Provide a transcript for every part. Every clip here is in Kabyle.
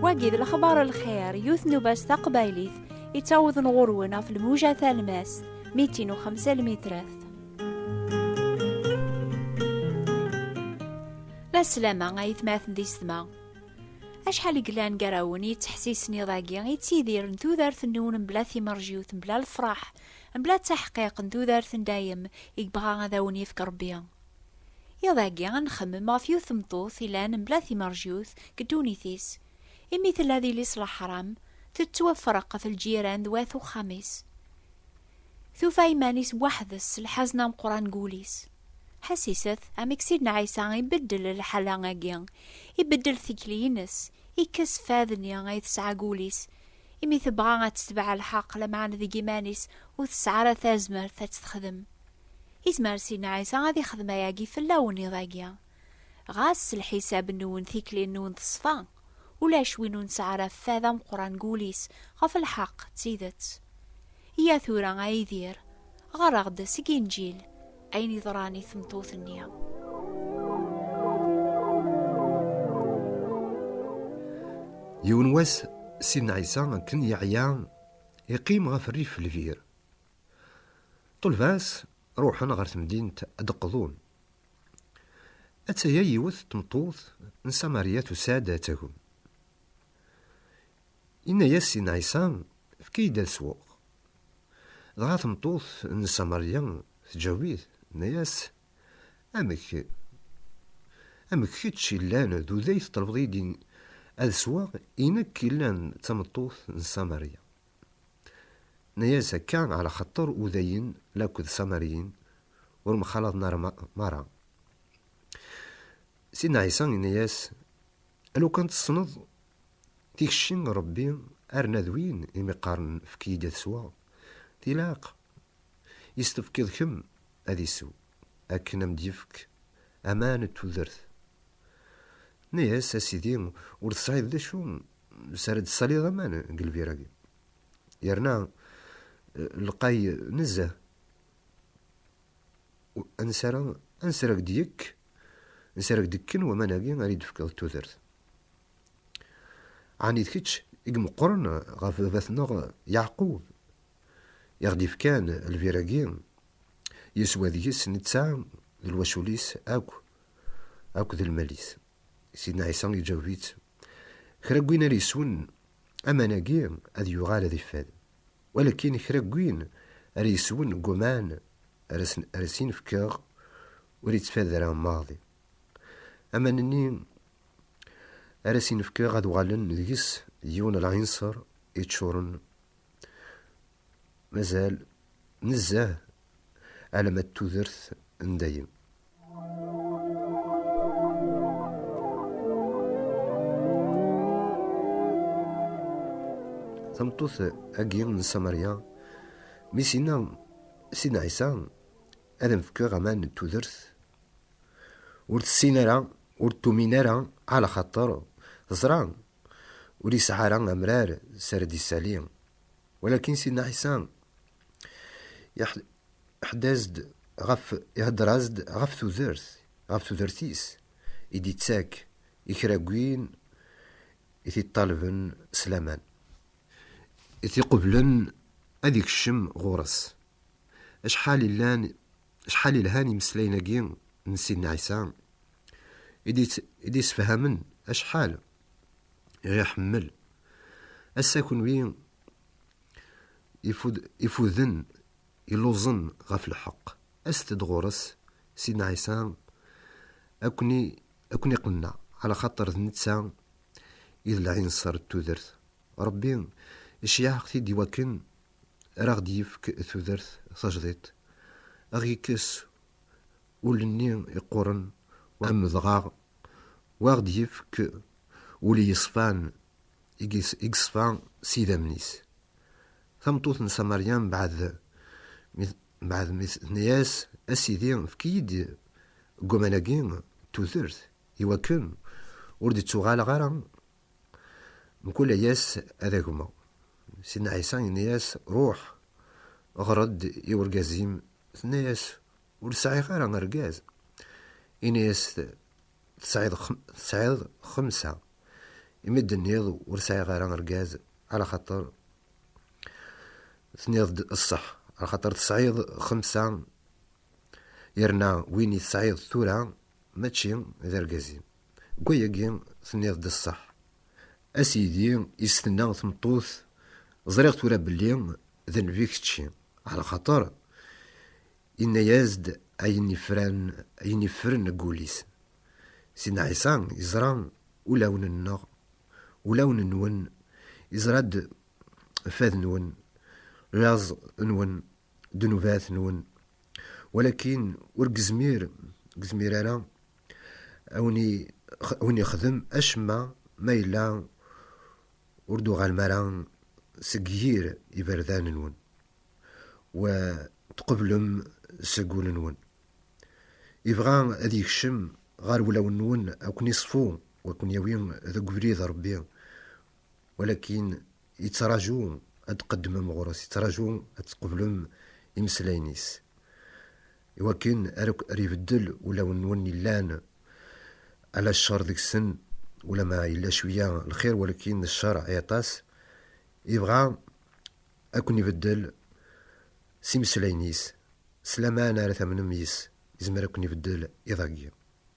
wagi d lexbar lxir yut n ubas taqbaylit yettawḍen ɣur-wen ɣef lmuja talmast mitin u xemsa lmitrat la slama ay tmaten di setma acḥal i yellan gar-awen yettḥessisen iḍ-agi i ttidiren tudert-nniwen mebla timerjiyut mebla lefraḥ Mebla d taḥqiq n tudert n dayem i yebɣa ad awen yefk Rebbi. Iḍ agi ad nxemmem ɣef yiwet tmeṭṭut ilan mebla timerjut deg ddunit-is, imi tella d ilis laḥram, tettwafreq ɣef lǧiran d wat uxxam-is. Tufa iman-is weḥd-s s lḥazen ameqqran deg wul-is. Ḥassiset, amek Sidna Ɛisa ibeddel lḥala-agi, ibeddel tikli-ines, ikkes fad-nni ay tesɛa deg wul-is, imi tebɣa ad tetbeɛ lḥeq lameɛna deg iman-is ur tesɛi ara tazmert ad t-texdem. Yezmer Sidna Ɛisa ad ixdem ayagi fell-awen iḍ-agi. Ɣas s lḥisab-nwen tikli-nwen teṣfa, ulac win ur nesɛi ara fad ameqqran deg wul-is ɣef lḥeq d tidet. Iyya tura a Yidir, ɣer-aɣ-d seg Inǧil, ayen yeḍran i tmeṭṭut-nni. Yiwen wass, Sidna Ɛisa akken yeɛya, iqqim ɣef rrif lbir. Ṭulba-s ruḥen ɣer temdint ad d-qḍun. Atta-ya yiwet tmeṭṭut n Samarya tusa-d ad tagem. Inna-yas i Ɛisa, Efk-iyi-d ad sweɣ. Dɣa tmeṭṭut n Samarya tǧawi-t, tenna-yas, Amek? Amek kečč yellan d uday teṭṭlebeḍ-iyi-d ad sweɣ, i nekk yellan d tameṭṭut n Samarya? Tenna-yas, Akka ɛla xaṭer udayen laked Samaryin ur mxalaḍen ara merra. Sidna Ɛisa inna-yas, Alukan tessneḍ tikci n Rebbi arna d win imi qqaren efk-iyi-d ad sweɣ, tilaq i s-tefkiḍ kemm ad isew akken a m-d-yefk aman d tudert. Tenna-yas, A Sidi, ur tesɛiḍ d acu s ara d-tessaliḍ aman deg lbir-agi, yerna lqay nezzeh, ansi ara nesreg deg-k Nsarag dekken waman-agi ara yi-d-tefkeḍ tudert. Ɛni d kečč i imeqqren ɣef baba-tneɣ Yeɛqub, i ɣ-d-ifkan lbir-agi, yeswa deg-s netta d lwacul-is akk, akk d lmal-is? Sidna Ɛisa iǧaweb-itt, Kra n win ara yeswen aman-agi ad yuɣal ad iffad, walakin kra n win ara yeswen deg waman ara s-in-fkeɣ ur yettfad ara maḍi. Aman-nni ara s-in-fkeɣ ad uɣalen deg-s d yiwen n lɛinṣer yeččuren mazal nezzeh alama d tudert n dayem. Tameṭṭut-agi n Samarya, mi s-yenna Sidna Ɛisa, Ad am-fkeɣ aman n tudert ur tessin ara, ur d-tumin ara, ɛla xaṭer teẓra ur yesɛi ara amrar s ara d-isali. Walakin Sidna Ɛisa iḥeddaz-d ɣef, ihedder-as-d ɣef tudert, ɣef tudert-is i d-ittak i kra n win i t-iṭṭalben s laman, i t-iqublen ad ikcem ɣur-s. Acḥal illan, acḥal ilhan imeslayen-agi n Sidna Ɛisa i d-yessefhamen acḥal i ɣ-iḥemmel. Ass-a kunwi ifuden, illuẓen ɣef lḥeqq, aset-d ɣur-s, Sidna Ɛisa ad ken-iqenneɛ, ɛlaxaṭer d netta i d lɛinṣer n tudert. Ṛebbi iceyyeɛ-aɣ-t-id iwakken ara aɣ-d-yefk tudert tajdiṭ, ad aɣ-yekkes ul-nni yeqquren u amedɣaɣ, u ad aɣ-d-yefk ul yeṣfan i yeṣfa s yidammen-is. Tameṭṭut n Samarya mbeɛd mi tenna-yas, A Sidi, efk-iyi-d deg waman-agi tudert, iwakken ur d-ttuɣaleɣ ara Mkul aya-s ad agmeɣ. Sidna Ɛisa yenna-yas, Ruḥ, ɣer-d i urgaz-im. Tenna-yas, Ur sɛiɣ ara argaz. Yenna-yas, Tesɛiḍ xemsa, imi d-tenniḍ ur sɛiɣ ara argaz, alaxaṭer tenniḍ-d ṣṣeḥ, axaṭer tesɛiḍ xemsa, yerna win i tesɛiḍ tura mačči d argaz-im. Deg wayagi tenniḍ-d ṣṣeḥ a sidi i s-tenna tmeṭṭut, ẓriɣ tura belli d nnbi kečči, ɛla xaṭer yenna-yas-d ayen yefran ayen yeffren deg wul-is. Sidna Ɛisa yeẓra ulawen-nneɣ, ulawen-nwen, yeẓra-d fad-nwen, laẓ-nwen, ddnubat-nwen, walakin ur gezmir gezmir ara A win i win yexdem acemma ma yella ur d-uɣalem ara seg yir iberdan-nwen u tqeblem seg wul-nwen. Ibɣa ad yekcem ɣer wulawen-nwen a ken-iṣfu u a ken-yawi deg ubrid Rebbi, walakin yettraju ad d-tqeddmem ɣur-s, yettraju ad tqeblem imeslayen-is. Iwakken ark ar ibeddel ulawen-nwen yellan ala ccer deg-sen, ulama yella cwiya lxir walakin ccer ay aṭas, yebɣa ad ken-ibeddel s imeslayen-is, s laman ara tamnem yes-s, yezmer ad ken-ibeddel iḍ-agi.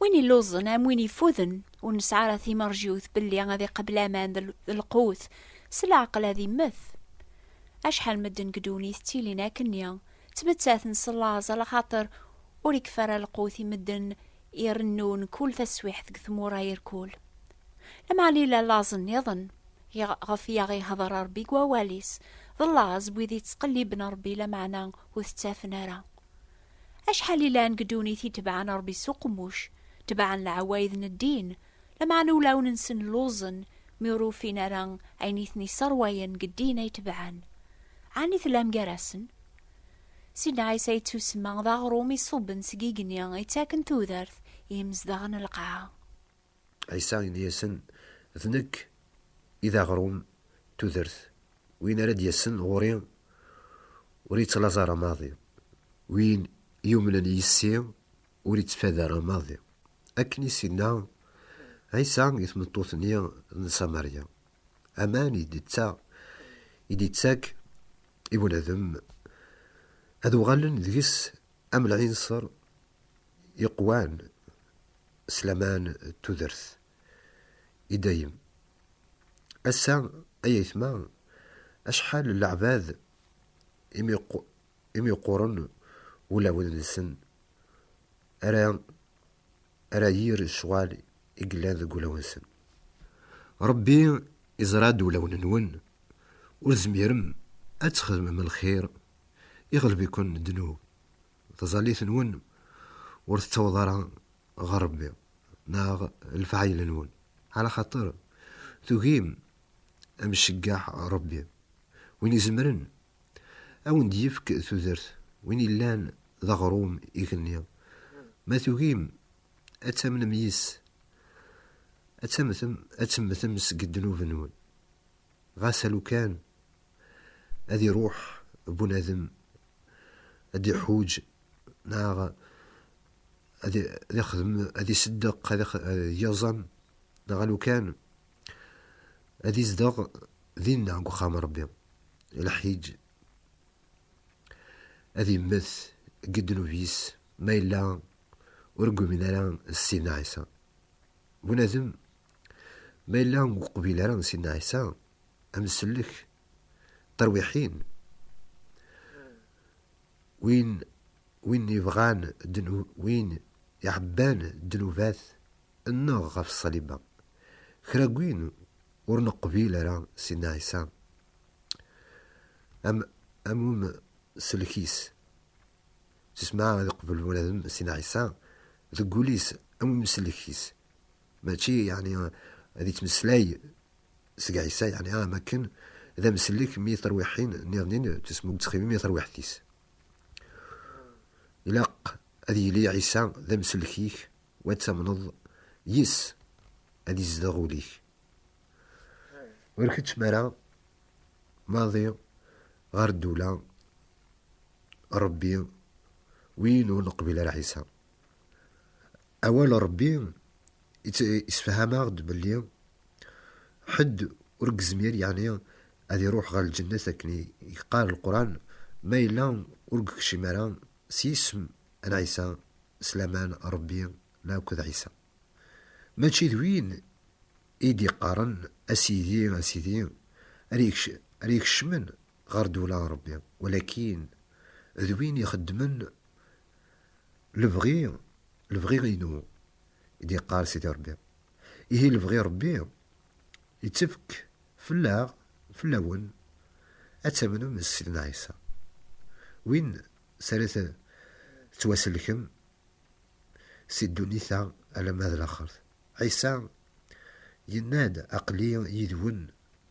Win illuẓen am win ifuden ur nesɛi ara timerjiwt belli ad iqebl aman d lqut, s leɛqel ad immet. Acḥal medden deg ddunit ttilin akkenni, ttmettaten s laẓ ala xaṭer ur ikfi ara lqut i medden irennun kul taswiḥt deg tmura irkul. Lameɛna yella laẓ nniḍen ɣef i aɣ-ihder Rebbi deg wawal-is, d laẓ n wid ittqelliben Rebbi lameɛna ur t-ttafen ara. Acḥal i llan deg ddunit i tebɛen Ṛebbi s uqemmuc, tebɛen leɛwayed n ddin, lameɛna ulawen-nsen lluẓen mi ur ufin ara ayen i ten-isseṛwayen deg ddin ay tebɛen. Ɛni tellam gar-asen? Sidna Ɛisa yettusemma d aɣrum iṣubben seg igenni yettaken tudert i yimezdaɣ n lqaɛa. Ɛisa yenna-yasen, D nekk i d aɣrum n tudert, win ara d-yasen ɣur-i ur yettlaẓ ara maḍi, win yumnen yis-i ur yettfad ara maḍi. Akken i s-yenna Ɛisa i tmeṭṭut-nni n Ṣamarya, aman i d-yettak i bunadem, ad uɣalen deg-s am lɛinṣer. Iqwan s laman d tudert i dayem. Ass-a, ay aytma, acḥal n leɛbad imi imi yeqquren wulawen-nsen ara ara yir ccɣal i yellan deg wulawen-nsen. Rebbi iẓra-d ulawen-nwen, ur tezmirem ad txedmem lxir, iɣleb-iken ddnub, taẓallit-nwen ur tettaweḍ ara ɣer Rebbi neɣ lefɛayel-nwen, ɛla xaṭer tugim ad m-ceggeɛ Rebbi, win izemren ad wen-d-yefk tudert, win yellan d aɣrum igenni, ma tugim ad tamnem yis-s, ad temmtem seg ddnub-nwen. Ɣas alukan ad iruḥ bunadem ad d-iḥuǧ neɣ ad ixdem, ad iseddeq, ad yeẓẓem neɣ alukan ad izdeɣ dinna deg uxxam n Ṛebbi, lḥiǧ ad immet deg ddnub-is ma yella ur ggumin ara Sidna Ɛisa. Bunadem Ma yella ur uqbil ara n Sidna Ɛisa, ad nsellek tarwiḥin win win yebɣan win iɛebban ddnubat nneɣ ɣef ṣṣaliba. Kra n win ur neqbil ara Sidna Ɛisa am am um sellek-is s isem-a ad iqbel bunadem Sidna Ɛisa deg wul-is am um sellek-is. Mačči yeɛni ad yettmeslay seg Ɛisa, yeɛni am wakken d amsellek mi tarwiḥin nniḍen d tesmugtxibin i tarwiḥt-is. Ilaq ad yili Ɛisa d amsellek-ik u ad tamneḍ yes-s ad izdeɣ ul-ik. Ur keččem ara maḍi ɣer ddula n Rebbi win ur neqbil ara Ɛisa. Awal n Ṛebbi isefham-aɣ-d belli ḥedd ur gezmir yeɛni ad iruḥ ɣer lǧennet akken yeqqar lqran ma yella ur gekcim ara s yisem n Ɛisa s laman n Ṛebbi ma akked Ɛisa. Mačči d win i d-iqqaren a Sidi a Sidi ara ikecmen ɣer ddewla n Rebbi, walakin d win ixeddmen lebɣi, lebɣi-inu, i d-yeqqar Sidi Rebbi. Ihi lebɣi n Rebbi yettefk fell-aɣ, fell-awen, ad tamnem s Sidna Ɛisa, win s ara tettwasellkem si ddunit-a alamma d laxert. Ɛisa yenna-d, Aql-i yid-wen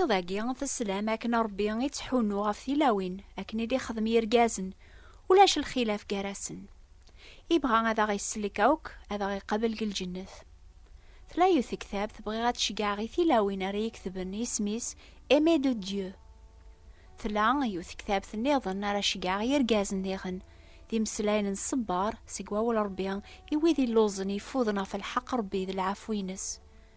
Iḍ-agi, teslam akken Ṛebbi i ttḥunnu ɣef tilawin akken i d-ixdem yirgazen, ulac lxilaf gar-asen. Ibɣa ad aɣ-isellek akk, ad aɣ-iqabel deg lǧennet. Tlayut tektabt bɣiɣ ad ceggɛeɣ i tilawin ara yeketben isem-is Aimé de Dieu. Tla yiwet tektabt nniḍen ara ceggɛeɣ yirgazen diɣen, d imeslayen n ṣṣebber seg wawal Ṛebbi i wid illuẓen yeffuden ɣef lḥeqq Ṛebbi d lɛafu-ines.